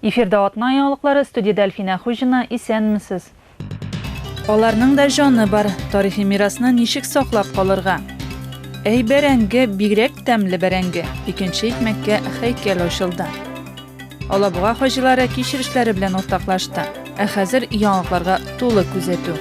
Эфирда атна яңалыклары, студиядә Әлфинә Хуҗина, исәнмесез. Аларның да җаны бар, тарихи мирасны ничек саклап калырга? Әй бәрәңге, бигрәк тәмле бәрәңге, икенче икмәккә хәйкәл ачылды. Алабуга хаҗилары кичерешләре белән уртаклашты. Ә хәзер яңалыкларга тулы күзәтү.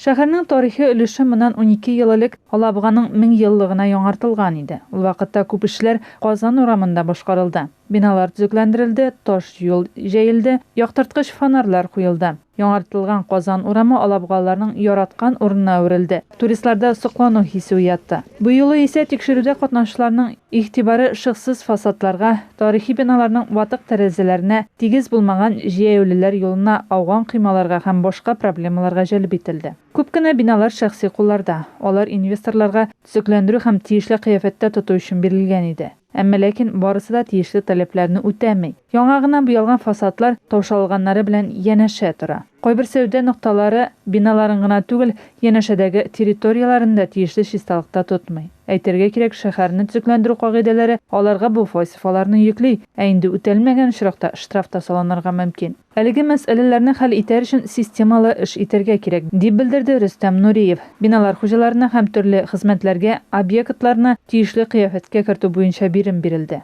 Шәһәрнең тарихи өлеше моннан унике ел элек Алабуганың меңьеллыгына яңартылган иде. Ул вакытта күп эшләр Казан урамында башкарылды. Биналар төзекләндерелде, таш юл җәелде, яктырткыч фонарьлар куелды. Яңартылган Казан урамы алабугалыларның яраткан урынына әверелде, туристларда соклану хисе уятты. Быюлы исә тикшерүдә катнашучыларның игътибары шыксыз фасадларга, Тарихи биналарның ватык тәрәзәләренә, тигез булмаган җәяүлеләр юлына, ауган коймаларга һәм башка проблемаларга җәлеп ителде. Күп кенә биналар шәхси кулларда, алар инвесторларга төзекләндерү һәм тиешле кыяфәттә тоту өчен бирелгән иде. Әмма ләкин барысы да тиешле таләпләрне үтәми. Яңа гына буялган фасадлар таушалганнары белән янәшә тора. Кайбер сәүдә нокталары биналарын гына түгел, янәшәдәге территорияләрне дә тиешле чисталыкта тотмый. Әйтергә кирәк, шәһәрне төзекләндерү кагыйдәләре аларга бу вазифаларны йөкли, ә инде үтәлмәгән очракта штраф та салынырга мөмкин. Әлеге мәсьәләләрне хәл итәр өчен системалы эш итәргә кирәк, дип белдерде Рөстәм Нуриев. Биналар хуҗаларына һәм төрле хезмәтләргә, объектларны тиешле кыяфәткә кертү буенча бирем бирелде.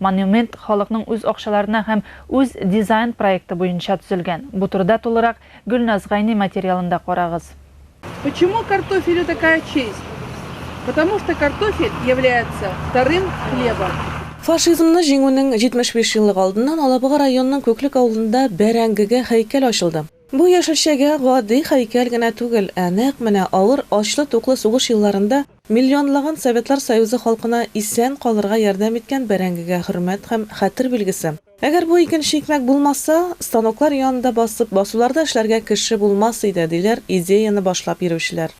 Монумент халыкның үз акчаларына һәм үз дизайн проекты буенча төзелгән. Бу турыда тулырак Гөлназ Гайни материалында карагыз. Почему картофелю такая честь? Потому что картофель является вторым хлебом. Фашизмны җиңүнең 75 еллыгы алдыннан Алабуга районының Күклек авылында бәрәңгегә һәйкәл ачылды. Бу яшелчәгә гади һәйкәл генә түгел, ә нәкъ менә авыр ачлы-туклы сугыш елларында миллионлаган Советлар Союзы халкына исән калырга ярдәм иткән бәрәңгегә хөрмәт һәм хәтер билгесе. Әгәр бу икенче икмәк булмаса, станоклар янында басып, басуларда эшләргә кеше булмас иде, диләр идеяне башлап йөрүчеләр.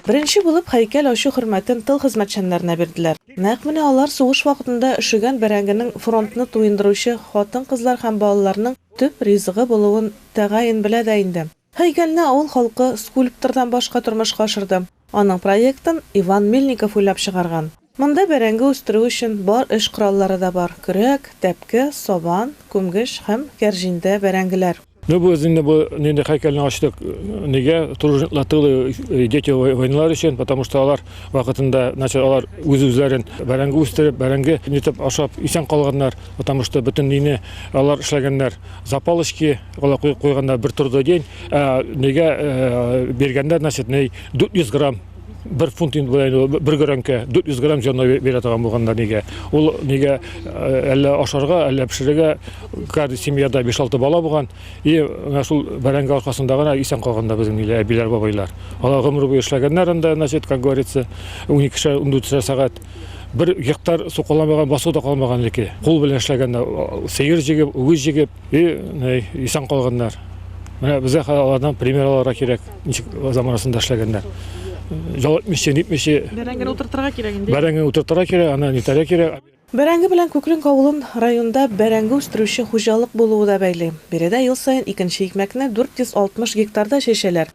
Беренче булып һәйкәл ачу хөрмәтен тыл хезмәтчәннәренә бирделәр. Нәкъ менә алар сугыш вакытында өшегән бәрәңгенең фронтны туендыручы хатын-кызлар һәм балаларның төп ризыгы булуын тәгаен белә дә инде. Һәйкәлне авыл халкы скульптордан башка тормышка ашырды. Аның проектын Иван Мельников уйлап чыгарган. Монда бәрәңге үстерү өчен бар эш кораллары да бар, көрәк, тәпке, сабан, күмгеч һәм кәрҗиндә бәрәңгеләр. Ну без инде бу нинди һәйкәлне ачтык, нигә, тружниклар тылы, дети войналар өчен, потому что алар вакытында, значит, алар үз-үзләрен бәрәңге үстереп, бәрәңге нитеп ашап исән калганнар, потому что бөтен өйне алар эшләгәннәр, запалочки, алар куйганнар бер трудодень. Неге бергәндә, значит, ней 400 грамм бер фунт инде белән бер гөрәнкә 400 грамм җанна бирә торган булганда нигә ул нигә э, әллә ашарга әллә пешерергә каждый семьяда 5-6 бала булган и менә шул бәрәңге аркасында гына исән калган да безнең ниләр әбиләр бабайлар алар гомер буе эшләгәннәр анда значит как говорится 12 шәр 14 сәгать Бер гектар су каламаган, басу да калмаган элекке. Кул белән эшләгәндә сыер җигеп, үгез җигеп, и, нәй, исән калганнар. Менә безгә хәзер алардан пример алырга кирәк, ничек заманасында эшләгәннәр. Ял итмичә, нитмичә. Бәрәңгене утыртырга кирәк инде. Бәрәңгене утыртырга кирәк, аны нитәргә кирәк. Бәрәңге белән Күкренк авылын районда бәрәңге үстерүче хуҗалык булуы да бәйли. Биредә ел саен икенче икмәкне 460 гектарда чәчәләр.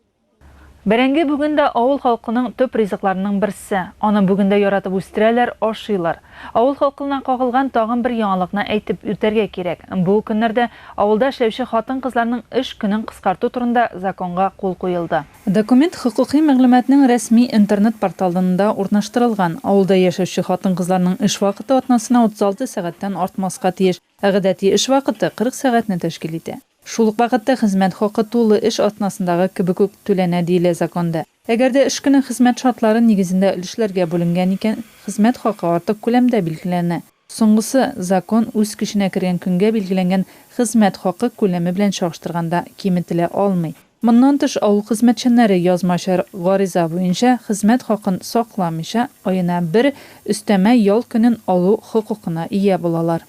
Бәрәңге бүген дә авыл халкының төп ризыкларының берсе. Аны бүген дә яратып үстерәләр, ашыйлар. Авыл халкылына кагылган тагын бер яңалыкны әйтеп үтәргә кирәк, бу көннәрдә авылда эшләүче хатын-кызларның эш көнен кыскарту турында законга кул куелды. Документ хокукый мәгълүматның рәсми интернет-порталында урнаштырылган. Авылда яшәүче хатын-кызларның эш вакыты атнасына 36 сәгатьтән артмаска тиеш, ә гадәти эш вакыты 40 сәгатьне тәшкил итә. Шул ук вакытта хезмәт хакы тулы эш атнасындагы кебек үк түләнә, диелә законда. Әгәр дә эш көне хезмәт шартлары нигезендә өлешләргә бүленгән икән, хезмәт хакы артык күләмдә билгеләнә. Соңгысы, закон үз көченә кергән көнгә билгеләнгән хезмәт хакы күләме белән чагыштырганда киметелә алмый. Моннан тыш, авыл хезмәтчәннәре язмачар гариза буенча хезмәт хакын сакламыйча, аена бер өстәмә ял көнен алу хокукына ия булалар.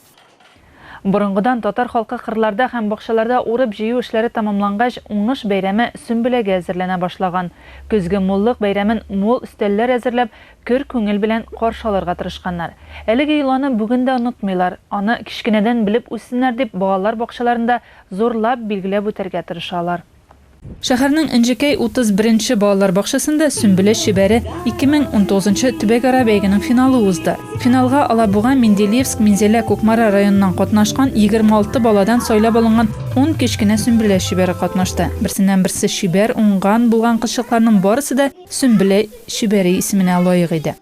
Борынгыдан татар халкы кырларда һәм бакчаларда урып-җыю эшләре тәмамлангач, уңыш бәйрәме Сөмбеләгә әзерләнә башлаган. Көзге муллык бәйрәмен мул өстәлләр әзерләп, көр күңел белән каршы алырга тырышканнар. Әлеге йоланы бүген дә онытмыйлар, аны кечкенәдән белеп үссеннәр дип, балалар бакчаларында Зурлап билгеләп үтәргә тырышалар. Шәһәрнең Энҗекәй 31 нче балалар бакчасында Сөмбелә чибәре 2019 нчы төбәкара бәйгенең финалы узды. Финалга Алабуга, Менделеевск, Минзәлә, Кукмара районыннан катнашкан 26 баладан сайлап алынган ун кечкенә Сөмбелә чибәре катнашты. Берсеннән-берсе чибәр, уңган, булган кызчыкларның барысы да Сөмбелә чибәре исеменә лаек иде.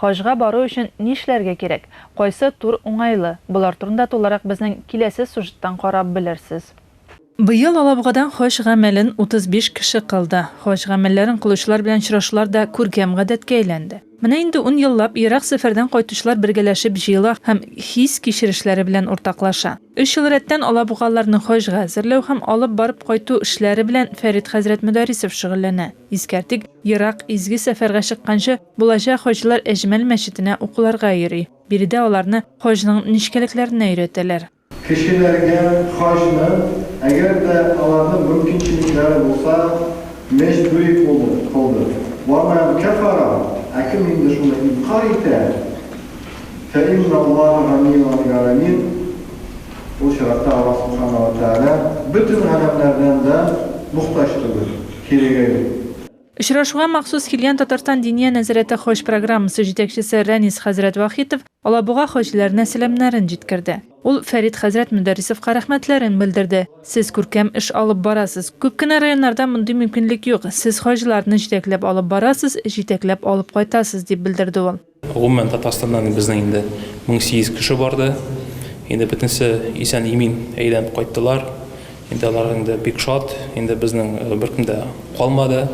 Хаҗга бару өчен нишләргә кирәк? Кайсы тур уңайлы? Болар турында тулырак безнең киләсе сюжеттан карап белерсез. Быел Алабугадан хаҗ гамәлен 35 кеше кылды. Хаҗ гамәлләрен кылучылар белән очрашулар да күркәм гадәткә әйләнде. Менә инде ун еллап ерак сәфәрдән кайтучылар бергәләшеп җыела һәм хис-кичерешләре белән уртаклаша. Өч ел рәттән алабугалыларны хаҗга әзерләү һәм алып барып кайту эшләре белән Фәрит хәзрәт Мөдәрисов шөгыльләнә. Искәртик, ерак изге сәфәргә чыкканчы, булачак хаҗилар Әҗмәл мәчетенә укуларга йөри. Биредә аларны хаҗның нечкәлекләренә өйрәтәләр. Кешеләргә хаҗны, әгәр дә аларның мөмкинчелекләре булса, мәҗбүри кулды, кылды. Ва мән кәфәра, ә кем инде шуны инкарь итә, фә инналлаһа ганиюн ан галәмин, ул чиратта Аллаһ Субхана ва Тәгалә бөтен галәмнәрдән дә мохтаҗ түгел. кирегеме? Очрашуга махсус килгән Татарстан Диния нәзарәте хаҗ программасы җитәкчесе Рәнис хәзрәт Вахитов Алабуга хаҗиләренә сәламнәрен җиткерде. Ул Фәрит хәзрәт Мөдәррисовка рәхмәтләрен белдерде, Сез күркәм эш алып барасыз. Күп кенә районнарда мондый мөмкинлек юк, сез хаҗиларны җитәкләп алып барасыз, җитәкләп алып кайтасыз, дип белдерде ул. Гомумән Татарстаннан безнең инде 1800 кеше барды. Инде бөтенесе исән-имин әйләнеп кайттылар. Инде алар инде бик шат. Инде безнең э, беркем дә калмады,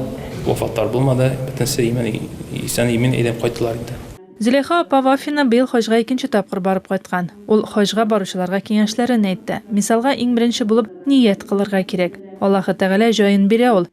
вафатлар булмады. Бөтенесе имин исән-имин әйләнеп кайттылар инде. Зөләйха апа Вафина быел хаҗга икенче тапкыр барып кайткан. Ул хаҗга баручыларга киңәшләрен әйтте. Мисалга, иң беренче булып ният кылырга кирәк. Аллаһы Тәгалә җаен бирә ул.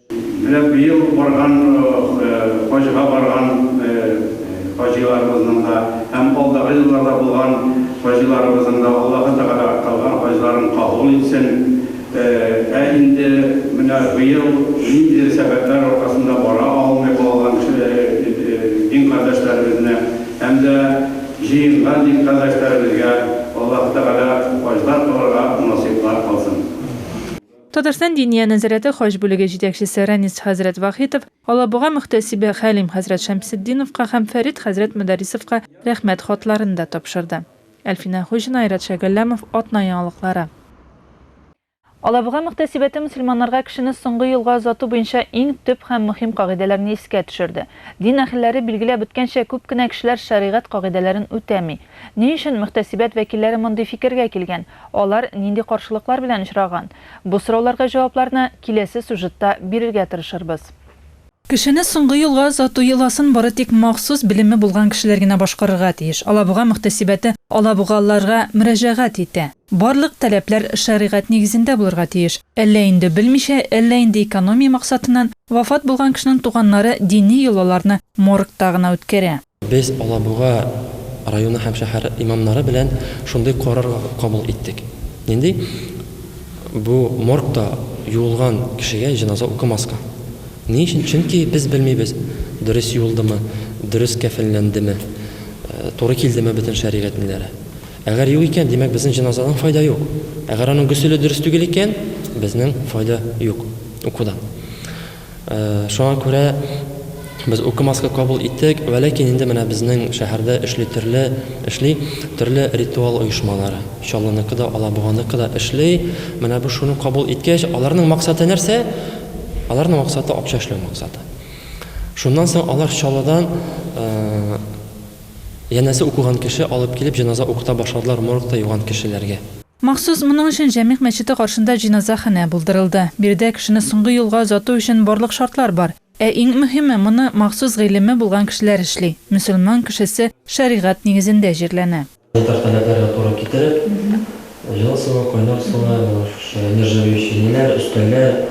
Менә быел барган хаҗга барган хаҗиларыбызның да һәм алдагы елларда булган хаҗиларыбызның да Аллаһы Тәгалә кылган хаҗларын кабул итсен. Ә инде менә быел ниндидер сәбәпләр аркасында бара алмый калган дин кардәшләребезне һәм дә җыенган дин кардәшләребезгә Аллаһы Тәгалә хаҗлар кылырга насыйплар кылсын. Татарстан Диния нәзарәте хаҗ бүлеге җитәкчесе Рәнис хәзрәт Вахитов, Алабуга мөхтәсибе Хәлим хәзрәт Шәмсетдиновка һәм Фәрит хәзрәт Мөдәррисовка рәхмәт хатларын да тапшырды. Әлфинә Хуҗина, Айрат Шәйгалләмов, Атна яңалыклары. Алабуга мөхтәсибәте мөселманнарга кешене соңгы юлга озату буенча иң төп һәм мөһим кагыйдәләрне искә төшерде. Дин әһелләре билгеләп үткәнчә, күп кенә кешеләр шәригать кагыйдәләрен үтәми. Ни өчен мөхтәсибәт вәкилләре мондый фикергә килгән? Алар нинди каршылыклар белән очраган? Бу сорауларга җавапларны киләсе сюжетта бирергә тырышырбыз. Кешене соңгы юлга озату йоласын бары тик махсус белеме булган кешеләр генә башкарырга тиеш. Алабуга мөхтәсибәте алабугалыларга мөрәҗәгать итә. Барлык таләпләр шәригать нигезендә булырга тиеш. Әллә инде белмичә, әллә инде экономия максатыннан, вафат булган кешенең туганнары дини йолаларны моргта гына үткәрә. Без Алабуга районы һәм шәһәре имамнары белән шундый карар кабул иттек. Нинди? Бу моргта юылган кешегә җеназа укымаска. Ни өчен? Чөнки без белмибез, дөрес юылдымы, дөрес кәфенләндеме, туры килдеме бөтен шәригатьнләре. Әгәр юк икән, димәк, безнең җеназадан файда юк. Әгәр аның гөселе дөрес түгел икән, безнең файда юк укудан. Шуңа күрә без укымаска кабул иттек. Вәләкин инде менә безнең шәһәрдә эшли төрле эшли төрле ритуал оешмалары. Чаллыныкы да, Алабуганыкы да эшли. Менә бу шуны кабул иткәч, аларның максаты нәрсә? Аларның максаты акча эшләү максаты. Шуннан соң алар Чаллыдан янәсе укыган кеше алып килеп җеназа укыта башладылар моргта юган кешеләргә. Махсус моның өчен Җәмигъ мәчете каршында җеназаханә булдырылды. Биредә кешене соңгы юлга озату өчен барлык шартлар бар. Ә иң мөһиме, моны махсус гыйлеме булган кешеләр эшли. Мөселман кешесе шәригать нигезендә җирләнә. Санитар таләпләргә туры китереп, җылы суы, кайнар суы, менә шушы нержавеющий ниләр, өстәлләр.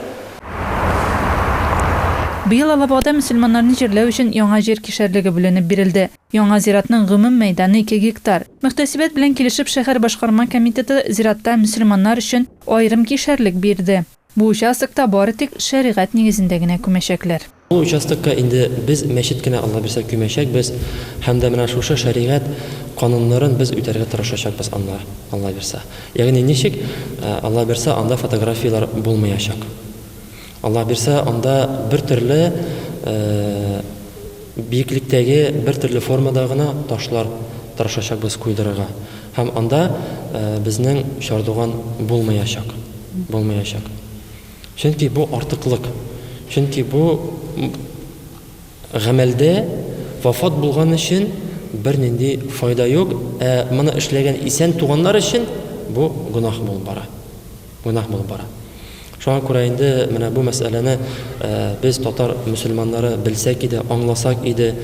Быел Алабугада мөселманнарны җирләү өчен яңа җир кишәрлеге бүленеп бирелде. Яңа зиратның гомум мәйданы ике гектар. Мөхтәсибәт белән килешеп шәһәр башкарма комитеты зиратта мөселманнар өчен аерым кишәрлек бирде. Бу участокта бары тик шәригать нигезендә генә күмәчәкләр. Бу участокка инде без мәчет кенә Алла бирсә күмәчәкбез һәм дә менә шушы шәригать кануннарын без үтәргә тырышачакбыз анда Алла бирса. Ягъни ничек? Алла бирса анда фотографияләр булмыячак. Алла бирсә, анда бер төрле биеклектәге, бер төрле формада гына ташлар тырышачакбыз куйдырырга. Һәм анда безнең чардуган булмаячак. Булмаячак. Чөнки бу артыклык. Чөнки бу гамәлдә вафат булган өчен бернинди файда юк, ә моны эшләгән исән туганнар өчен бу гөнаһ булып бара. Гөнаһ булып бара. Шуңа күрә инде менә бу мәсьәләне без, татар мөселманнары, белсәк иде, аңласак иде.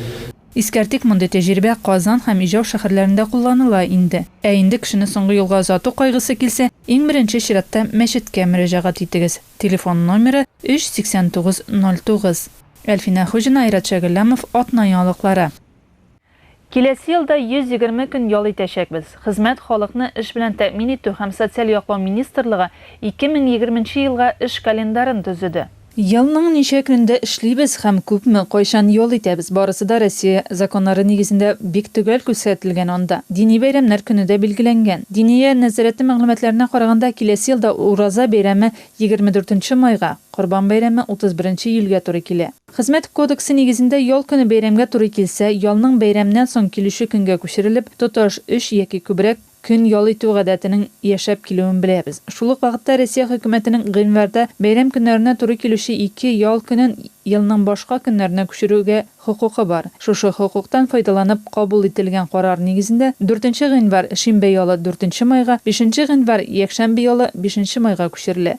Искәртик, мондый тәҗрибә Казан һәм Ижау шәһәрләрендә кулланыла инде. Ә инде кешене соңгы юлга озату кайгысы килсә, иң беренче чиратта мәчеткә мөрәҗәгать итегез. Телефон номеры, 38909. Әлфинә Хуҗина, Айрат Шәгелләмов, Атна яңалыклары. Киләсе елда 120 көн ял итәчәкбез. Хезмәт, халыкны эш белән тәэмин итү һәм социаль яклау министрлыгы 2020 нче елга эш календарын төзеде. Елның ничә көнендә эшлибез һәм күпме, кайчан ял итәбез, барысы да Россия законнары нигезендә бик төгәл күрсәтелгән анда. Дини бәйрәмнәр көне дә билгеләнгән. Диния нәзарәте мәгълүматларына караганда, киләсе елда Ураза бәйрәме 24 нче майга, Корбан бәйрәме 31 нче июльгә туры килә. Хезмәт кодексы нигезендә ял көне бәйрәмгә туры килсә, ялның бәйрәмнән соң килүче көнгә күчерелеп, тоташ өч яки күбрәк көн ял итү гадәтенең яшәп килүен беләбез. Шул ук вакытта Россия Хөкүмәтенең гыйнварда бәйрәм көннәренә туры килүче ике ял көнен елның башка көннәренә күчерүгә хокукы бар. Шушы хокуктан файдаланып кабул ителгән карар нигезендә, дүртенче гыйнвар, шимбә ялы, дүртенче майга, бишенче гыйнвар, якшәмбе ялы, бишенче майга күчерелә.